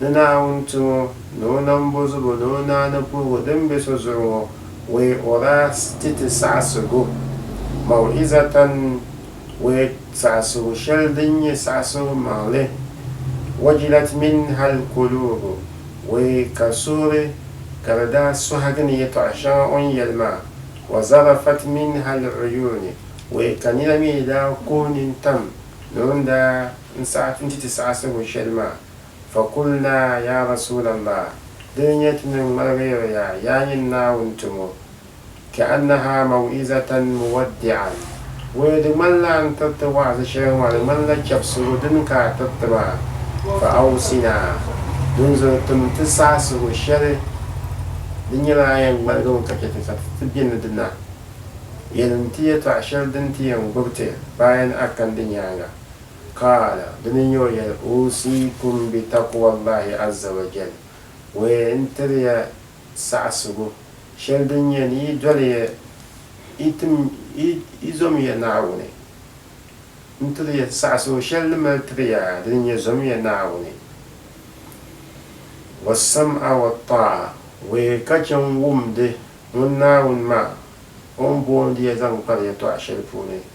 Ni Naawuni ti ŋɔ, ni O nambozubu ni O naani puhigu din be so zuɣu ŋɔ, wee o daa ti ti saɣisigu, maw'izatan, wee saɣisigu sheli din nye saɣisigu maŋli, wajilat minhal kuluubu, wee ka suhuri ka di daa sohigi ni yetɔɣa sheŋa o ni yeli maa, wa zarafat minhal uyuuni, wee ka nina mi daa kuhi nintam ni o ni daa n saɣi n ti ti saɣisigu sheli maa. Fakulna, Yaa Rasulallah! Di ni nyɛ ti ni ŋmaligiri ya, yaa nyini Naawuni tumo, Ka'annaha maw'izatan muwaddi'an, Wee di ŋmanila n tiriti wa'azi shɛli ŋɔ, di ŋmanila chɛbisigu dini ka a tiriti maa, Fa'awsina, Dinzuɣu tim ti saɣisigu shɛli, di nyɛla a yɛn ŋmaligimi ka chɛ ti sa ti ti bɛ ni di na, Yɛlim ti yɛtɔɣa shɛli din ti yɛn gbubi ti bayan a kan di nyaaŋa. Qaala, dini n-nyɛ o yɛli, Uusiikum bi taqwa Allahi azza wa jal, wee n-tiri ya saɣisigu shɛli din nyɛ ni yi doli ya, yi tim, yi zom ya Naawuni. N tiri ya saɣisigu shɛli ni mali tiri ya, dini n-nyɛ zom ya Naawuni, wassam'a wattaa'a, wee ka chɛ n-wumdi ŋun Naawuni maa o ni boondi ya zaŋ kpari yɛtɔɣa shɛli puuni.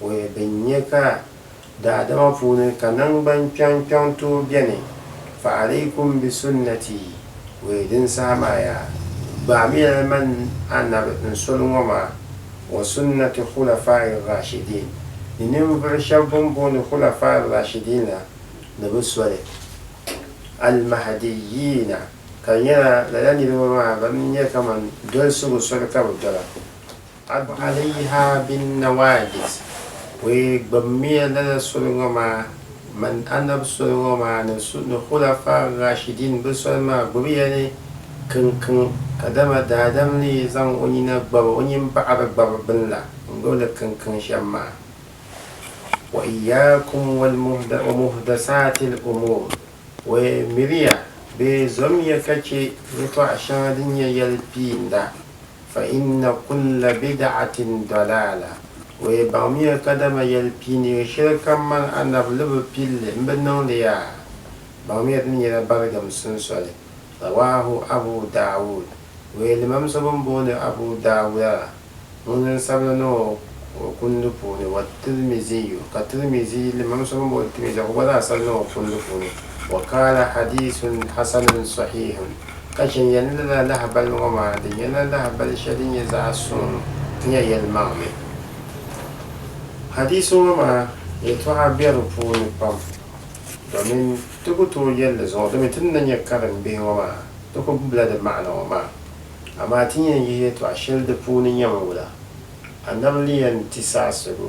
Bɔya din nyɛ ka daadama puuni ka naŋgban kpɛŋ kpɛŋ tooi beni, fa alaikum bi sunnati, bɔya din saha maa yaa gbaamiya li man Anabi n soli ŋɔ maa, wa sunnati khulafa'ir rashidiin, ni ninvuɣu shɛba bɛn booni khulafa'ir rashidiin la ni bɛ soli, al mahdiyyiina, ka nyɛla lala niriba maa ban nyɛ kaman dolsigu soli ka bɛ dola. Abu Alayha bin Nawaajis o yi gbibimiya lala soli ŋɔ maa min Annabi soli ŋɔ maa ni ni Khulafaa Raashidiin bɛ soli maa gbibiya ni kinkin kadama daadam ni yi zaŋ o nina gbabi o nyin baɣiri gbabi bini la n-gbibi li kinkin shem maa. Wa iyaakum wal wa muhdasaatil umuur o yi miriya bee zommiya ka che yɛltɔɣa sheŋa din nyɛ yɛli piinda. Fa inna kulla bid'atin dɔlaala, O yi baŋmiya kadama yɛli piiniga shɛli kam mani Annabi ni bi pili li m-bi niŋ li yaa, baŋmiya dini nyɛla baligim sunsoli. Rawaahu Abu Daawuud, O yi limam so bɛn booni Abu Daawuda la, ŋun zaŋ sabila niŋ o o kundi puuni, wa Tirmiziyu, ka Tirmizi limam so bɛn booni Tirmizi la ka gba zaŋ asali niŋ o kundi puuni, wa qaala hadiisun hasanun sɔhiihun. Ka chɛ nyɛli lala lahibali ŋɔ maa, di nyɛla lahibali shɛli din nyɛ zaɣ suŋ nya yɛlimaŋli. Hadiisi ŋɔ maa yɛtɔɣa be di puuni pam, domin ti ku tooi yɛli di zuɣu, domin ti ni na nya karimbihi ŋɔ maa, ti ku gbubila di maana ŋɔ maa. Amaa ti ni yɛn yihi yɛtɔɣ shɛli di puuni nyami wula? Annabi ni yɛn ti saɣisigu.